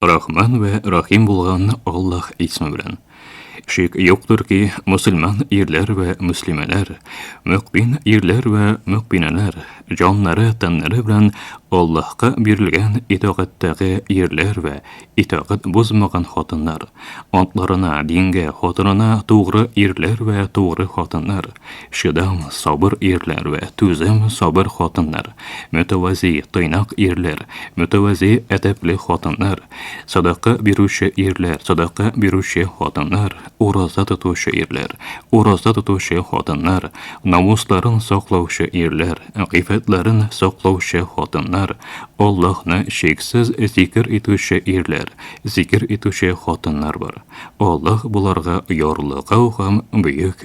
Рахман вә Рахим булган Аллаһ исме белән. Шик юктыр ки, мусульман ирләр вә муслимәләр, мөкмин ирләр вә мөкминәләр, җаннары, тәннәре белән Аллаһка бирелгән итагаттәге ирләр вә итагат бозмаган хатыннар, атларына, дингә, хатынына тугры ирләр вә тугры хатыннар, Чыдам, сабыр ирләр вә түзем, сабыр хатыннар, мөтәвәзи, тыйнак ирләр, мөтәвәзи, әдәпле хатыннар, садака бирүче ирләр, садака бирүче хатыннар, ураза тотучы ирләр, ураза тотучы хатыннар, намусларын саклаучы ирләр, гыйффәтләрен саклаучы хатыннар, Аллаһны чиксез зикер итүче ирләр, зикер итүче хатыннар бар. Аллаһ боларга ярлыгау һәм бөек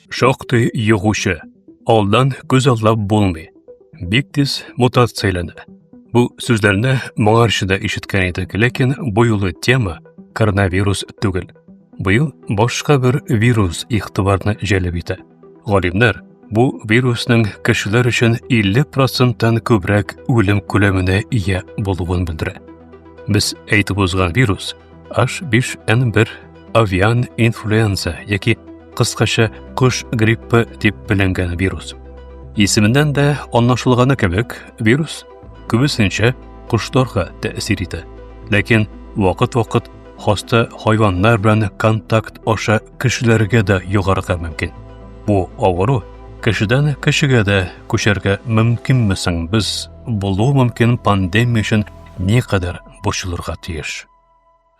Шактый йогучы. Алдан күз аллап булмый. Бик тиз мутацияләнә. Бу сүзләрне моңарчы да ишеткән идек, ләкин бу юлы тема коронавирус түгел. Быел башка бер вирус игътибарны җәлеп итә. Галимнәр бу вирусның кешеләр өчен 50 проценттан күбрәк үлем күләменә ия булуын белдерә. Без әйтеп узган вирус H5N1 авиан инфлюенза яки кыскача кош гриппы дип беленгән вирус. Исеменнән дә анлашылганы кебек, вирус күбесенчә кошларга тәэсир итә. Ләкин вакыт-вакыт хаста хайваннар белән контакт аша кешеләргә дә йогарга мөмкин. Бу авыру кешедән кешегә дә күчәргә мөмкинме соң? Без булу мөмкин пандемия өчен никадәр борчылырга тиеш.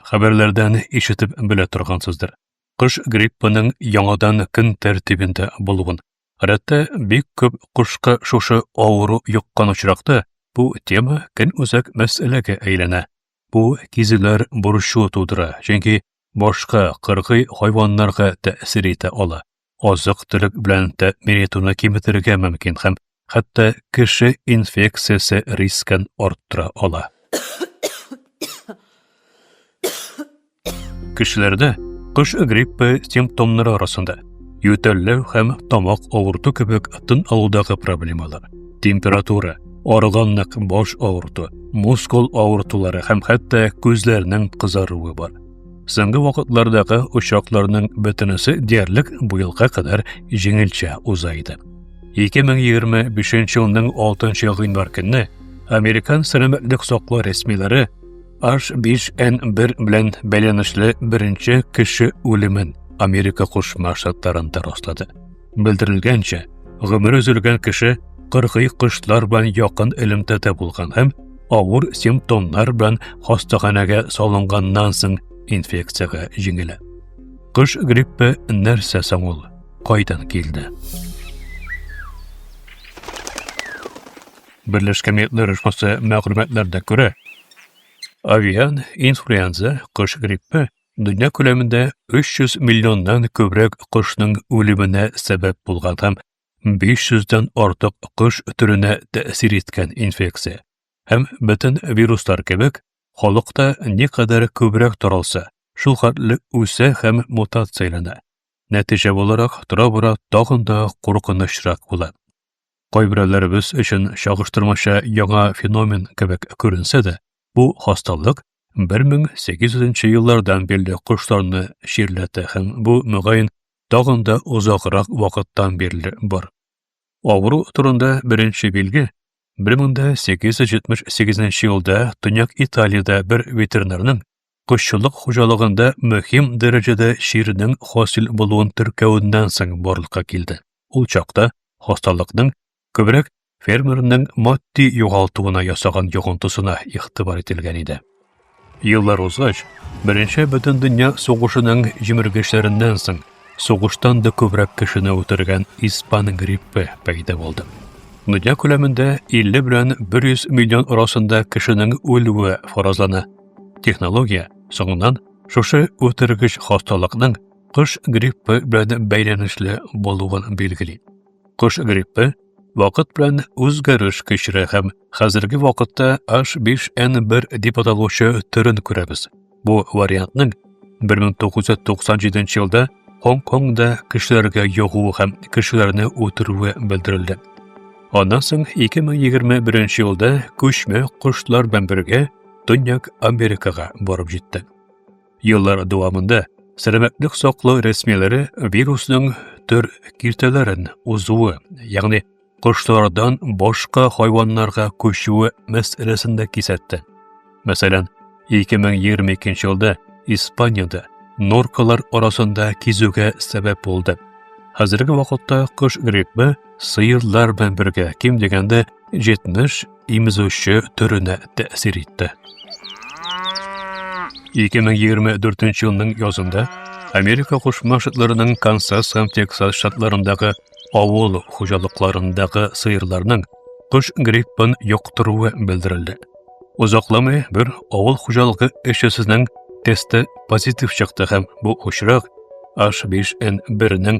Хәбәрләрдән ишетеп белә торгансыздыр. Кыш гриппының яңадан көн тәртибендә булуын. Гадәттә бик күп кошка шушы авыру йоккан очракта бу тема көн үзәк мәсьәләгә әйләнә. Бу кизүләр борчу тудыра, чөнки башка кыргый хайваннарга тәэсир итә ала. азык-төлек белән тәэмин итүне киметергә мөмкин һәм хәтта кеше инфекциясе рискын арттыра ала. Кешеләрдә кыш гриппы симптомнары арасында ютәлләү һәм тамак авырту кебек тын алудагы проблемалар, температура, арыганлык, баш авырту, мускул авыртулары һәм хәтта күзләрнең кызаруы бар. Соңгы вакытлардагы очакларның бөтенесе диярлек быелга кадәр җиңелчә уза иде. 2025 елның 6 гыйнвар көнне Американ сәламәтлек саклау рәсмиләре H5N1 белән бәйләнешле беренче кеше үлемен Америка Кушма Штатларында раслады. Белдерелгәнчә, гомере өзелгән кеше кыргый кошлар белән якын элемтәдә булган һәм авыр симптомнар белән хастаханәгә салынганнан соң инфекцияга җиңелә. Кыш гриппы нәрсә соң ул? Кайдан килде? Берләшкән Милләтләр оешмасы мәгълүматларына күрә, авиан инфлюенза кыш гриппы дөнья күләмендә 300 миллионнан күбрәк кошның үлеменә сәбәп булган һәм 500-дән артык кош төренә тәэсир иткән инфекция һәм бөтен вируслар кебек халыкта никадәр күбрәк таралса, шул хәтле үсә һәм мутацияләнә. Нәтиҗә буларак тора-бара тагын да куркынычрак була. Кайберәүләребез өчен чагыштырмача яңа феномен кебек күренсә дә, бу хасталык 1800 еллардан бирле кошларны чирләтә һәм бу, мөгаен, тагын да озаграк вакыттан бирле бар. Авыру турында беренче билге 1878 елда Төньяк Италиядә бер ветеринарның кошчылык хуҗалыгында мөһим дәрәҗәдә чирнең хасил булуын теркәвеннән соң барлыкка килде. Ул чакта хасталыкның Күбрәк фермерның матди югалтуына ясаган йогынтысына игътибар ителгән иде. Еллар узгач, Беренче бөтен дөнья сугышының җимергечләреннән соң сугыштан да күбрәк кешене үтергән испан гриппы пәйда булды. Дөнья күләмендә 50 белән 100 миллион арасында кешенең үлүе фаразлана. Технология соңыннан шушы үтергеч хасталыкның кыш гриппы белән бәйләнешле булуын билгели. Кош гриппы вакыт белән үзгәреш кичерә һәм хәзерге вакытта H5N1 дип аталучы төрен күрәбез. Бу вариантның 1997 елда Гонконгда кешеләргә йогуы һәм кешеләрне үтерүе белдерелде. Аннан соң 2021 елда күчмә кошлар белән бергә Төньяк Америкага барып җитте. Еллар дәвамында сәламәтлек саклау рәсмиләре вирусның төр киртәләрен узуы, ягъни кошлардан башка хайваннарга күчүе мәсьәләсен дә кисәтте. Мәсәлән, 2022 елда Испаниядә норкалар арасында кизүгә сәбәп булды. Хәзерге вакытта кыш гриппы сыерлар белән бергә ким дигәндә 70 имезүче төренә тәэсир итте. 2024 елның язында Америка Кушма Штатларының Канзас һәм Тексас штатларындагы авыл хуҗалыкларындагы сыерларның кыш гриппын йоктыруы белдерелде. Озакламый бер авыл хуҗалыгы эшчесенең тесты позитив чыкты һәм бу очрак H5N1-нең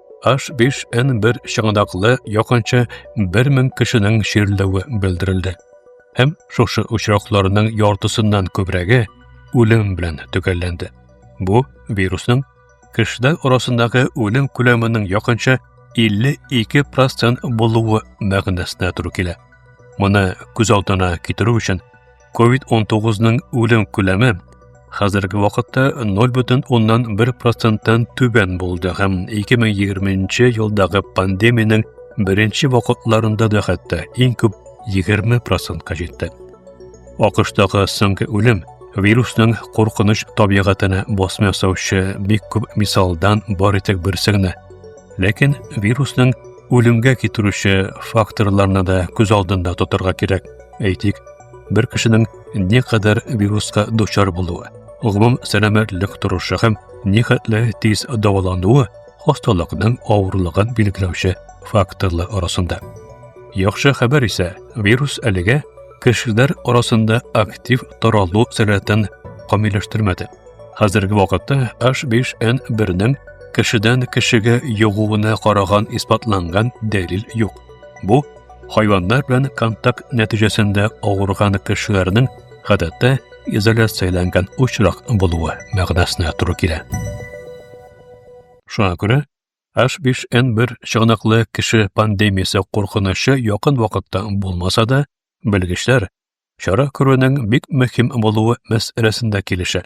H5N1 чыңадаклы якынча 1000 кешенең чирләве белдерелде. Һәм шушы очракларның яртысыннан күбрәге үлем белән төгәлләнде. Бу вирусның кешеләр арасындагы үлем күләменең якынча 52% булуы мәгънәсенә туры килә. Моны күз алдына китерү өчен COVID-19-ның үлем күләме хәзерге вакытта 0,1 проценттан түбән булды һәм 2020 елдагы пандемиянең беренче вакытларында да хәтта иң күп 20 процентка җитте. АКШтагы соңгы үлем вирусның куркыныч табигатына басма ясаучы бик күп мисалдан бар итек берсе генә. Ләкин вирусның үлемгә китерүче факторларны да күз алдында тотырга кирәк. Әйтик, бер кешенең не кадәр вируска дучар булуы, гомум сәламәтлек торышы һәм нихәтле тиз дәвалануы хасталыкның авырлыгын билгеләүче факторлар арасында. Яхшы хәбәр исә, вирус әлегә кешеләр арасында актив таралу сәләтен камилләштермәде. Хәзерге вакытта H5N1-нең кешедән кешегә йогуына караган исбатланган дәлил юк. Бу Хайваннар белән контакт нәтиҗәсендә авырган кешеләрнең гадәттә изоляцияләнгән очрак булуы мәгънәсенә туры килә. Шуңа күрә H5N1 чыганаклы кеше пандемиясе куркынычы якын вакытта булмаса да, белгечләр чара күрүнең бик мөһим булуы мәсьәләсендә килешә.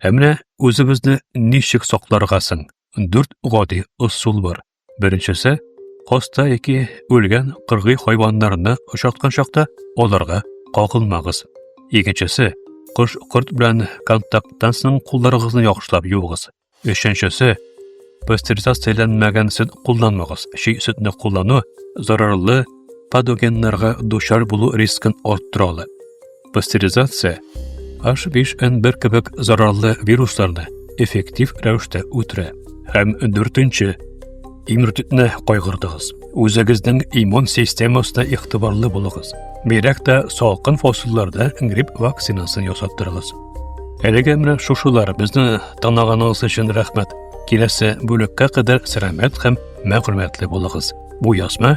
Ә менә үзебезне ничек сакларга соң? Дүрт гади ысул бар. Беренчесе, коста яки үлгән кыргый хайваннарны очраткан чакта аларга кагылмагыз. Икенчесе, кош-корт белән контакттан соң кулларыгызны яхшылап юыгыз. Өченчесе, пастеризацияләнмәгән сөт кулланмагыз. Чи сөтне куллану зарарлы патогеннарга дучар булу рискын арттыра ала. пастеризация, H5N1 кебек зарарлы вирусларны эффектив рәвештә үтерә. Һәм дүртенче, иммунитетны кайгыртыгыз. Үзегезнең иммун системасына игътибарлы булыгыз. Бигрәк тә салкын фасылларда грипп вакцинасын ясаттырыгыз. Әлегә менә шушылар безне таныганыгыз өчен рәхмәт. Киләсе бүлеккә кадәр сәламәт һәм мәгълүматлы булыгыз. Бу язма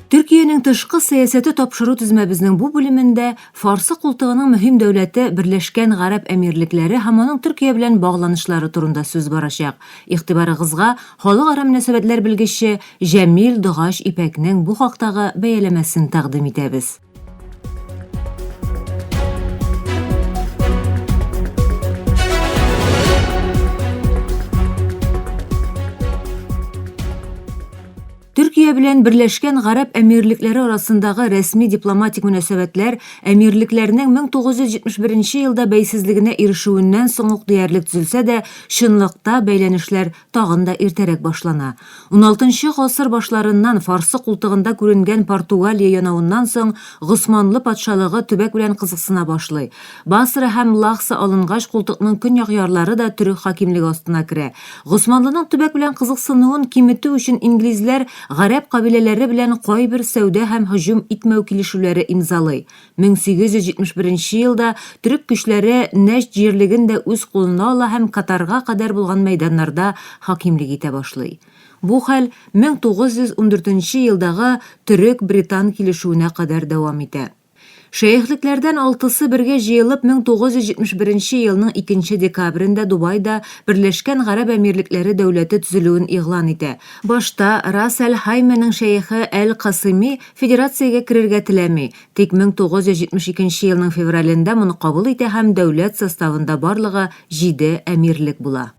Төркиянең тышкы сәясәте тапшыру тезмәбезнең бу бүлемендә Фарсы култыгының мөһим дәүләте Берләшкән Гарәп Әмирлекләре һәм аның Төркия белән багланышлары турында сүз барачак. Игътибарыгызга халыкара мөнәсәбәтләр белгече Җәмил Догач Ипәкнең бу хактагы бәяләмәсен тәкъдим итәбез. Төркия белән Берләшкән Гарәп Әмирлекләре арасындагы рәсми дипломатик мөнәсәбәтләр әмирлекләрнең 1971 елда бәйсезлегенә ирешүеннән соң ук диярлек төзелсә дә, чынлыкта бәйләнешләр тагын да иртәрәк башлана. Уналтынчы гасыр башларыннан Фарсы култыгында күренгән Португалия янавыннан соң Госманлы патшалыгы төбәк белән кызыксына башлый. Басра һәм Лахса алынгач, култыкның көньяк ярлары да төрек хакимлеге астына керә. Госманлының төбәк белән кызыксынуын киметү өчен инглизләр гарәп кабиләләре белән кайбер сәүдә һәм һөҗүм итмәү килешүләре имзалый. 1871 елда төрек көчләре Нәҗд җирлеген дә үз кулына ала һәм Катарга кадәр булган мәйданнарда хакимлек итә башлый. Бу хәл 1914 елдагы төрек-британ килешүенә кадәр дәвам итә. Шәехлекләрдән алтысы бергә җыелып 1971 елның икенче декабрендә Дубайда Берләшкән Гарәп Әмирлекләре дәүләте төзелүен игълан итә. Башта Рас әл-Хаймәнең шәехе әл-Касыйми федерациягә керергә теләми, тик 1972 елның февралендә моны кабул итә һәм дәүләт составында барлыгы җиде әмирлек була.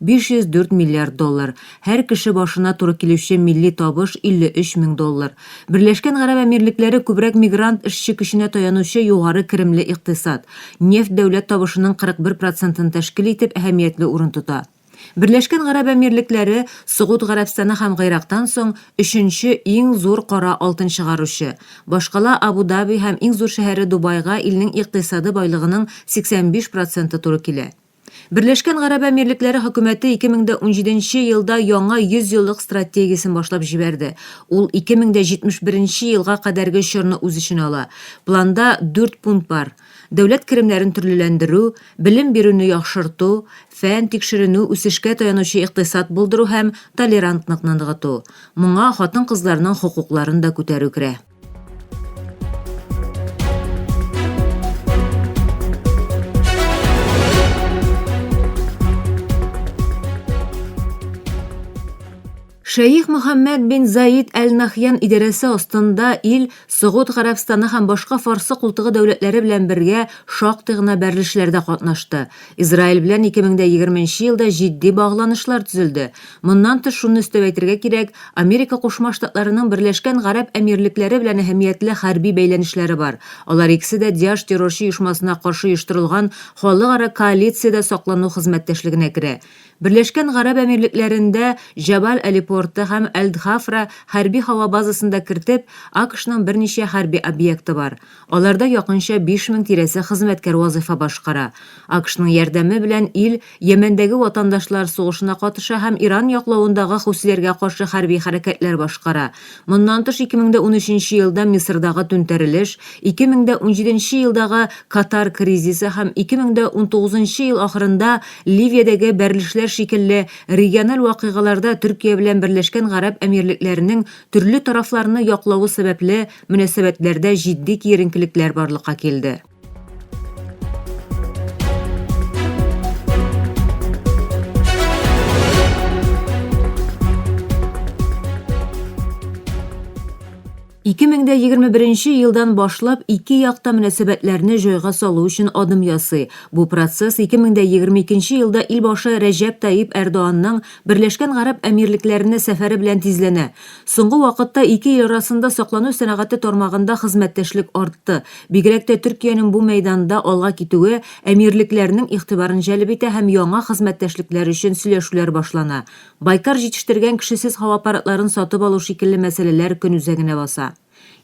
504 миллиард доллар, һәр кеше башына туры килүче милли табыш 53 мең доллар. Берләшкән Гарәп Әмирлекләре күбрәк мигрант эшче көченә таянучы югары керемле икътисад. Нефть дәүләт табышының 41 процентын тәшкил итеп, әһәмиятле урын тота. Берләшкән Гарәп Әмирлекләре, Согуд Гарәбстаны һәм Гыйрактан соң, өченче иң зур кара алтын чыгаручы. Башкала Абу-Даби һәм иң зур шәһәре Дубайга илнең икътисады байлыгының 85 проценты туры килә. Берләшкән Гарәп Әмирлекләре хөкүмәте 2017 елда яңа 100 еллык стратегиясен башлап җибәрде. Ул 2071 елга кадәрге чорны үз эченә ала. Планда дүрт пункт бар, дәүләт керемнәрен төрлеләндерү, белем бирүне яхшырту, фән, тикшеренү, үсешкә таянучы икътисад булдыру һәм толерантлыкны ныгыту. Моңа хатын-кызларның хокукларын да күтәрү керә. Шәйх Мөхәммәд бин Заид әл-Нахьян идарәсе астында ил Согуд Гарәбстаны һәм башка фарсы култыгы дәүләтләре белән бергә шактый гына бәрелешләрдә катнашты. Израиль белән 2020 елда җитди багланышлар төзелде. Моннан тыш шуны өстәп әйтергә кирәк, Америка Кушма Штатларының Берләшкән Гарәп Әмирлекләре белән әһәмиятле хәрби бәйләнешләре бар. Алар икесе дә Диаш террорчы оешмасына каршы оештырылган халыкара коалициядә саклану хезмәттәшлегенә керә. Берләшкән Гарәп Әмирлекләрендә Җабаль Али порты һәм Әл-Дхафра хәрби һава базасын да кертеп, АКШның берничә хәрби объекты бар. Аларда якынча 5000 тирәсе хезмәткәр вазыйфа башкара. АКШның ярдәме белән ил Йәмәндәге ватандашлар сугышына катыша һәм Иран яклавындагы хусиләргә каршы хәрби хәрәкәтләр башкара. Моннан тыш 2013 елда Мисырдагы түнтәрелеш, 2017 елдагы Катар кризисы һәм 2019 ел ахырында Ливиядәге бәрелешләр шикелле региональ вакыйгаларда Төркия белән Берләшкән Гарәп Әмирлекләренең төрле тарафларны яклавы сәбәпле мөнәсәбәтләрдә җитди киеренкелекләр барлыкка килде. Ике мең дә егерме беренче елдан башлап ике як та мөнәсәбәтләрне җайга салу өчен адым ясый. Бу процесс ике мең дә егерме икенче елда илбашы Рәҗәп Таип Әрдоанның Берләшкән гарәп әмирлекләренә сәфәре белән тизләнә. Соңгы вакытта ике ил арасында саклану сәнәгате тармагында хезмәттәшлек артты. Бигрәк тә Төркиянең бу мәйданда алга китүе әмирлекләрнең игътибарын җәлеп итә һәм яңа хезмәттәшлекләр өчен сөйләшүләр башлана. Байкар җитештергән кешесез һава аппаратларын сатып алу шикелле мәсьәләләр көн үзәгенә баса.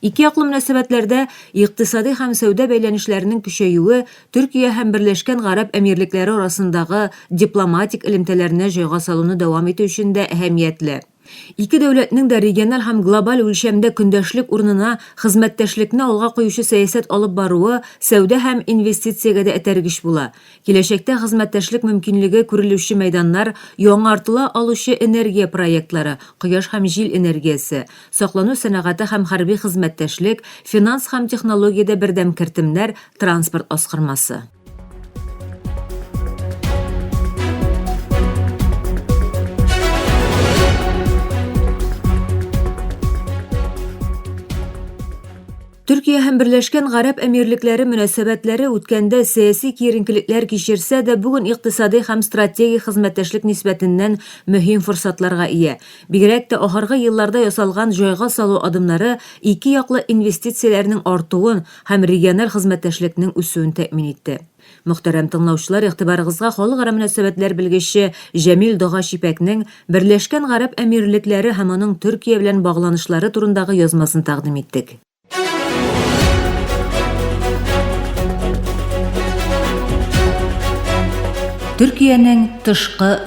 Икеяклы мөнәсәбәтләрдә икътисади һәм сәүдә бәйләнешләренең көчәюе Төркия һәм Берләшкән Гарәп Әмирлекләре арасындагы дипломатик элемтәләрне җайга салуны дәвам итү өчен дә әһәмиятле. Ике дәүләтнең дә региональ һәм глобаль үлчәмдә көндәшлек урынына хезмәттәшлекне алга куючы сәясәт алып баруы сәүдә һәм инвестициягә дә этәргеч була. Киләчәктә хезмәттәшлек мөмкинлеге күрелүче мәйданнар, яңартыла алучы энергия проектлары, кояш һәм җил энергиясе, саклану сәнәгате һәм хәрби хезмәттәшлек, финанс һәм технологиядә бердәм кертемнәр, транспорт аскырмасы. Төркия һәм Берләшкән Гарәп Әмирлекләре мөнәсәбәтләре үткәндә сәяси киеренкелекләр кичерсә дә, бүген икътисади һәм стратегик хезмәттәшлек нисбәтеннән мөһим форсатларга ия. Бигрәк тә ахыргы елларда ясалган җайга салу адымнары ике яклы инвестицияләрнең артуын, һәм региональ хезмәттәшлекнең үсүен тәэмин итте. Мөхтәрәм тыңлаучылар, игътибарыгызга халыкара мөнәсәбәтләр белгече Җәмил Дога Чипәкнең Берләшкән Гарәп Әмирлекләре һәм аның Төркия белән багланышлары турындагы язмасын тәкъдим иттек. Төркиянең тышкы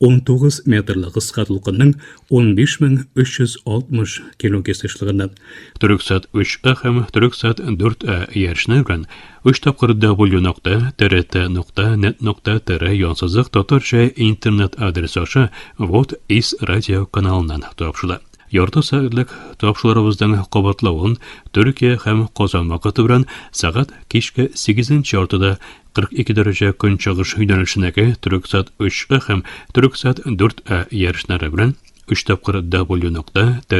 19 метрлы кыска дулкынның 15360 кило кесешлыгында. Төрексат 3А һәм Төрексат 4А иярченнәр белән 3 тапкыр w.trt.net.tr янсызык татарча интернет адресы аша Вот из радио каналыннан тапшыла. Ярты сәгатьлек тапшыруларыбызның кабатлавын Төркия һәм Казан вакыты белән сәгать кичке 8 яртыда 42 дәрәҗә көнчыгыш юнәлешенәге Төрексат 3А һәм Төрексат 4А ярышлары белән 3 тапкыр w.trt.net.tr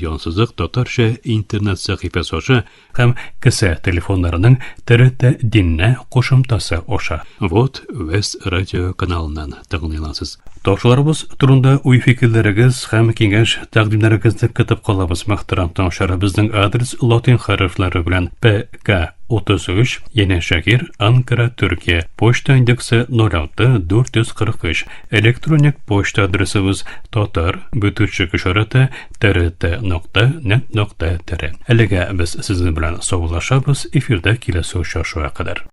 янсызык татарча интернет сәхифәсе аша һәм кесә телефоннарының TRT диннә кушымтасы аша. Вот Вест радио каналыннан. тәкъдим итәсез. Ташуларыбыз турында уй-фикерләрегез һәм киңәш тәкъдимнәрегезне көтеп калабыз. Мәхтәрәм таңчары безнең адрес латин хәрефләре белән ПК 33, Яне Шакир, Анкара, Төркия. Почта индексы 06 443. Электроник почта адресыбыз татар бөтүчек ишараты трт нокта нет нокта тире. Әлегә без сезнең белән саулашабыз, эфирда киләсе очрашуга кадәр.